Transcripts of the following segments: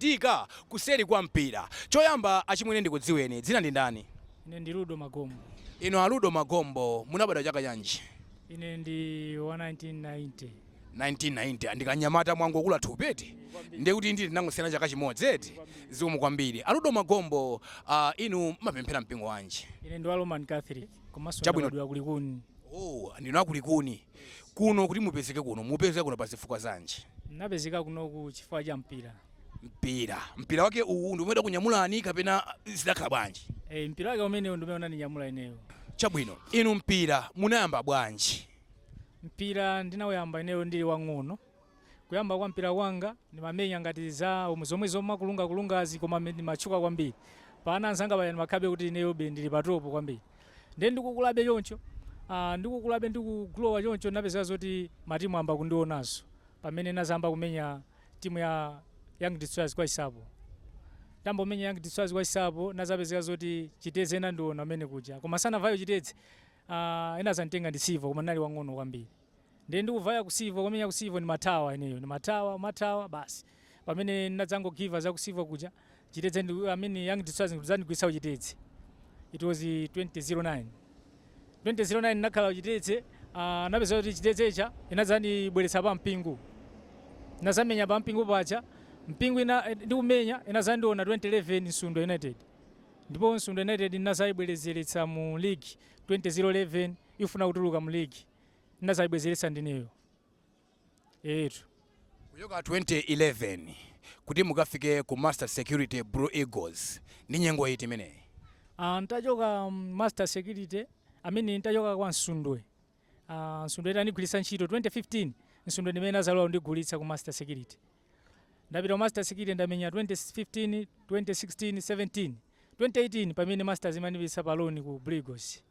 Zochitika kuseri kwa mpira. Choyamba achimwene ndikudziweni. Dzina ndi ndani? Ine ndi Ludo Magombo. Inu a Ludo Magombo, munabadwa chaka chanji? Ine ndi wa 1990. 1990. Ndi kanyamata mwangokula thupi eti? Ndiye kuti ndi ndinangosiyana chaka chimodzi eti? Zikomo kwambiri. A Ludo Magombo, ah, inu mumapemphera mpingo wanji? Ine ndi wa Roman Catholic komanso Chabwino. ndabadwira ku Likuni. Oh, ndinu a ku Likuni. Kuno kuti mupezeke kuno, mwapezeka kuno pazifukwa zanji? Napezeka kunoku chifukwa cha mpira. Mpira, mpira wake uwu ndi umene udakunyamulani kapena zidakhala bwanji? E, mpira wake umenewu ndi umene unandinyamula ineyo. Chabwino, inu mpira munayamba bwanji? Mpira ndinauyamba ineyo ndili wang'ono, Kuyamba kwa mpira kwanga ndimamenya ngati za zomwe zomwe zomakulunga kulungazi koma me- ndimatchuka kwambiri pa ana anzanga paya ndimakhalabe kuti ineyobe ndili pa topo kwambiri ndiye ndikukulabe choncho ah, ndikukulabe ndikugulowa choncho napeza zoti matimu ayamba kundiona ndi pamene nazayamba kumenya timu ya young destroyers kwa isapo ntayamba kumenya young destroyers kwa isapo nazapezeka zoti chitedze inandiona mmene kuja koma sindinapiteyo chitedze ah, ena azanditenga ndi Civo koma ndinali wang'ono kwambiri Ndiye ndikuvaya ku Civo kumenya ku Civo ndimathawa ineyo ndimathawa umathawa basi pamene ndinadzangogiva za ku Civo kuja chitedze ndi I mean young destroyers kudzandigulitsa ku chitedze it was 2009 2009 ndinakhala ku chitedze ah, napeza kuti chitedzeyo inadzandibweretsa pa mpingo nazamenya pa mpingo paja mpingo ina eh, ndikumenya inazandiona 2011 Msundwe United ndipo Msundwe United ndinazayibwezeretsa mu league 2011 ikufuna kutuluka mu league ndinazayibwezeretsa ndineyo etu kuchoka 2011 kuti mukafike ku master security blue eagles ndi nyengo iti imeneyi Ah, ntachoka mm, master security amene ntachoka kwa msundwe Ah, msundwe itandigwiritsa ntchito 2015 msundwe ndimene azalowa kundigulitsa ku master security ndapita ku master security ndamenya 2015 2016 17 2018 pamene masters imanipitsa pa loan ku blue eagles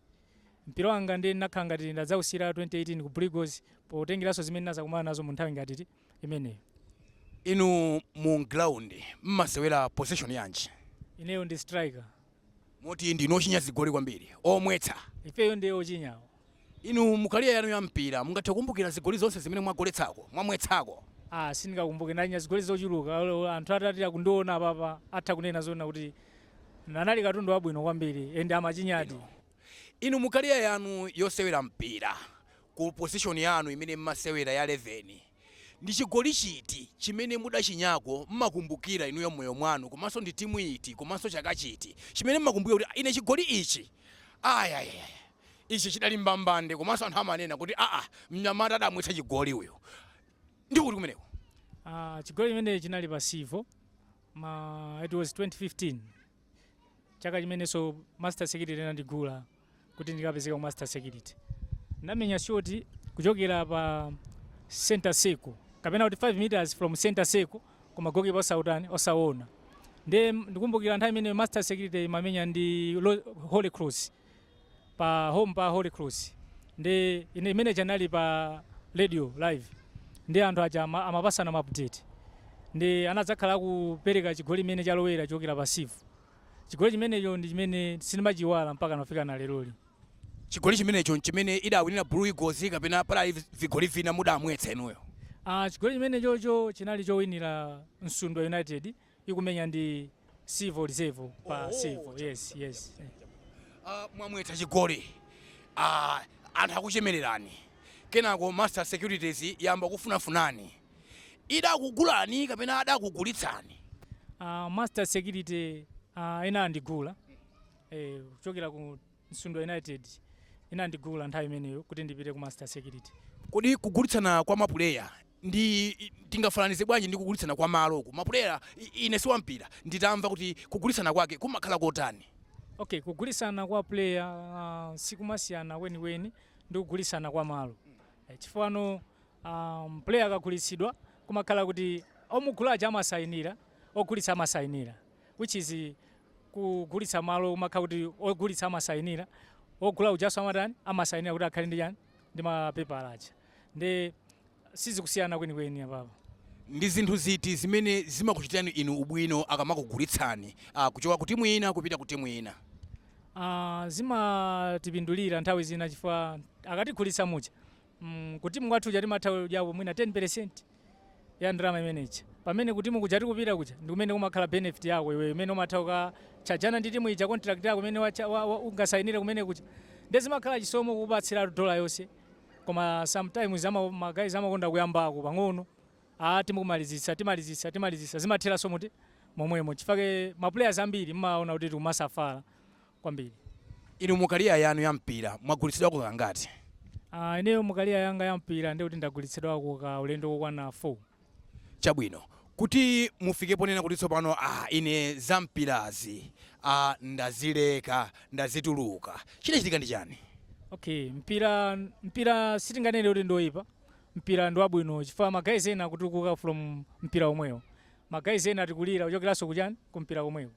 mpira wanga ndiye ndinakhala ngati ndadzausiyira 2018 ku blue eagles potengeranso zimene ndinazakumana nazo mu nthawi ngati ti- imeneyo inu mu ground mmasewera position yanji ineyo ndi striker Moti ndinu ochinya zigoli kwambiri, omwetsa? Ifeyo ndiye ochinyawo. Inu mu career yanu ya mpira mungathe kukumbukira zigoli zonse zimene mwagoletsako, mwamwetsako? Aaa sindingakumbuke, ndachinya zigoli zochuluka olo anthu atati andiona apapa atha kunena zoona kuti anali katundu wabwino kwambiri and amachinyadi. Chabwino. Inu mu career yanu yosewera mpira, ku position yanu imene mmasewera ya eleveni, Ndi chigoli chiti chimene mudachinyako mumakumbukira inuyo mmoyo mwanu komanso ndi timu iti komanso chaka chiti chimene mumakumbukira kuti ine chigoli ichi ayayayaya ichi chidali mbambande komanso anthu amanena kuti aa mnyamata adamwetsa chigoli uyu ndi kuti kumeneko? Ah, chigoli chimene chinali pa Civo mma it was 2015 chaka chimenenso Master Security anandigula kuti ndikapezeka ku master security ndinamenya shoti kuchokera pa center circle kapena kuti 5 meters from center circle koma gokipa osautani osaona nde ndikumbukira nthawi imene master security imamenya ndi Lo- holy cross pa home pa holy cross ndi ine imene ija anali pa radio live nde anthu aja ama- amapasana ma update nde anadzakhala akupereka chigoli chimene chalowera chokera pa Civo Chigoli chimenecho ndi chimene sindimachiiwala mpakana kufikira leroli. Chigoli chimenecho n'chimene idawinira Blue Eagles kapena padali vigoli vina mudamwetsa inuyo? Aaa chigoli chimenechocho chinali chowinira Nsundwe United ikumenya ndi Civo Reserve pa Civo. Yes, yes. Aaa mwamwetsa chigoli aah anthu akuchemererani kenako Master Securities yayamba kukufunafunani. idakugulani kapena adakugulitsani? Aa Master Security inandigula kuchokera ku Nsundwe United, inandigula nthawi imeneyo kuti ndipite ku Master Security. Kodi kugulitsana kwa mapuleya ndi tingafananize bwanji ndi kugulitsana kwa malo uku mapuleya, ine osati wampira nditamva kuti kugulitsana kwake kumakhala kotani? Okay, kugulitsana kwa puleya sikumasiyana kwenikweni ndi kugulitsana kwa malo chifukwa um, player akagulitsidwa kumakhala kuti omugula aja amasayinira ogulitsa amasayinira which is kugulitsa malo kumakhala kuti ogulitsa amasayinira ogula ujaso amatani amasayinira kuti akhale ndi chani ndi mapepala aja nde sizikusiyana kwenikweni apapo ndi zinthu ziti zimene zimakuchitirani inu ubwino akamakugulitsani uh, kuchoka ku timu ina kupita ku timu ina Ah, zimatipindulira nthawi zina chifukwa akatigulitsa muja mm, kutimu kwathu kuja timatha kudyapo mwina 10 percent ya ndalama imene ija pamene kutimu kuja tikupita kuja ndi kumene kumakhala benefit yako iweyo imene umatha kukatchajana ndi timu ija contract yako imene wacha- wa- wa- ungasayinire kumene kuja nde zimakhala chisomo kukupatsira ndalama yonse koma sometimes ama- magayizi amakonda kuyambako pang'ono a timu kumalizitsa timalizitsa timalizitsa zimatheranso mu momwemo chifake maplayers ambiri mumaona kuti tikumasafala kwambiri. Inu mu career yanu ya mpira mwagulitsidwako kangati? Aaa ineyo mu career yanga ya mpira ndekuti ndagulitsidwako ka ulendo kokwana 4. Chabwino, kuti mufike ponena kuti tsopano aah ine za mpirazi aah ndazileka, ndazituluka, chidachitika ndi chani? Okay, mpira, mpira sitinganene kuti ndi oyipa, mpira ndi wabwino chifukwa ma guys ena akutukuka from mpira omwewo, ma guys ena akutukula kuchokeranso kuchani, ku mpira komweko.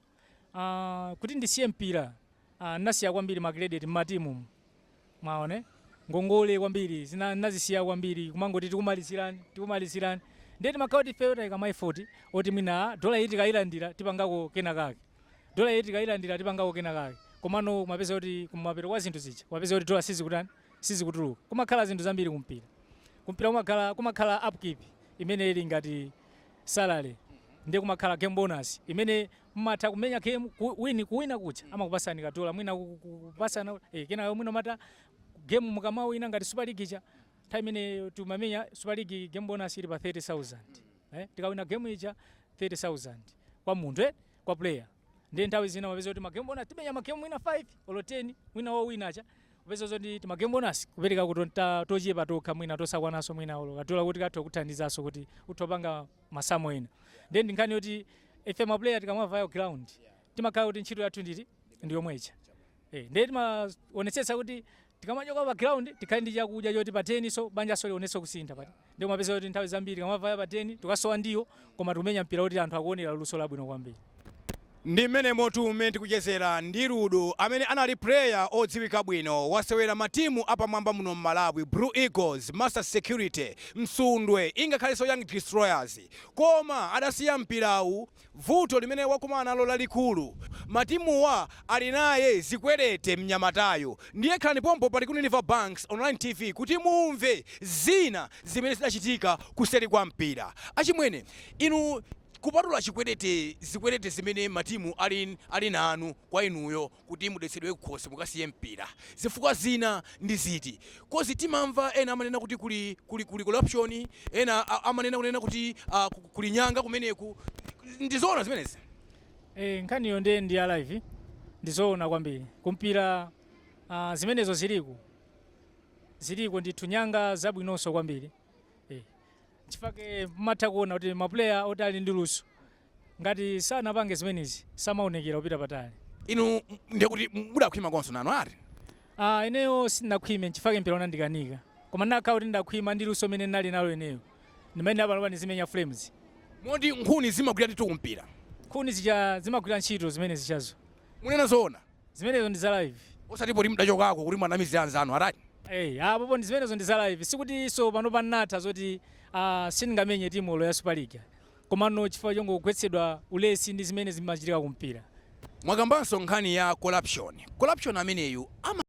Uh, kuti ndisiye mpira uh, ah, nasiya kwambiri ma credit mmatimu mwaona ngongole kwambiri zina nazisiya kwambiri kumangoti tikumalizirani tikumalizirani nde timakhala oti ifeyo taika ma effort oti mwina dola iyi tikayilandira tipangako kena kake dola iyi tikayilandira tipangako kena kake komano kumapeza kuti kumapeto kwa zinthu zija kumapeza kuti dola sizikutani sizikutuluka kumakhala zinthu zambiri kumpira kumpira kumakhala kumakhala upkeep imene ili ngati salary ndiye kumakhala game bonus imene mmatha kumenya game ku- win kuwina kuja amakupasani kadola mwina ku- ku- ku- kupasana eh, kenayo mwina ma game mukamawina ngati super league ija nthawi imene timamenya super league game bonus ili pa 30000 eh, tikawina game ija 30000 kwa munthu eh, kwa player ndiye nthawi zina umapeza kuti magemu bonasi timamenya magemu mwina 5 olo 10 mwina owina aja upeza zoti timagemu bonasi kupereka kuti ta- tochepa tokha mwina tosakwanaso mwina olo kadola kuti katha kuthandizaso kuti utha kupanga masamu ena ndiye ndi nkhani yoti ife maplayer tikamavaya ku ground timakhala kuti ntchito yathu ndithu ndi yomweija Eh, ndiye timaonetsetsa kuti Tikamachoka pa ground tikhale ndi chakudya choti pa den-so banjanso lionenso kusintha paja ndiye umapeza kuti nthawi zambiri tikamavaya pa den tikasowa ndiwo koma tikumenya mpira woti anthu akuonera luso labwino kwambiri. Ndi mmenemotu mmene tikuchezera ndi Rudo amene anali player odziwika bwino, wasewera ma team apamwamba muno mMalawi, Blue Eagles, Masters Security, Msundwe ingakhalenso Young Destroyers koma adasiya mpirawu Vuto limene wakumana nalo lalikulu matimuwa ali naye zikwerete mnyamatayu ndiye khalani pompo pa Likuni River Banks Online TV kuti mumve zina zimene zidachitika kuseri kwa mpira achimwene inu kupatula chikwerete zikwerete zimene matimu ali ali nanu kwa inuyo kuti mudetsedwe kukhosi mukasiye mpira zifukwa zina ndi ziti coz timamva ena amanena kuti kuli kuli kuli corruption ena amanena kunena kuti uh, kuli nyanga kumeneku ndizoona zimenezi Eh, nkhaniyo nde ndi ya live ndizoona kwambiri kumpira uh, zimenezo ziliku ziliko ndithu nyanga zabwinonso kwambiri eh. chifake matha kuona kuti mapuleya oti ali ndi luso Ngati sanapange zimenezi samaonekera kupita patali. Inu ndiye kuti mudakhwima konso nanu ati? Ah, ineyo sindinakhwime nchifukwa chake mpira unandikanika. Koma ndinakhala kuti ndakhwima ndi luso limene ndinali nalo ineyo. Ndimayenera panopa ndizimenya Flames. Moti nkhuni zimagwira ndithu kumpira? Nkhuni zija zimagwira ntchito zimene zijazo. Munena zoona? Zimenezo ndi za live. Osati poti mudachokako kuti muwanamizire anzanu ati? Ei, ah, apopo ndi zimenezo ndi za live. Sikutinso panopa ndinatha zoti ah, sindingamenye timu olo ya Super League ayi. Komano chifukwa chongogwetsedwa ulesi ndi zimene zimachitika ku mpira. Mwakambanso nkhani ya corruption. Corruption ameneyu ama.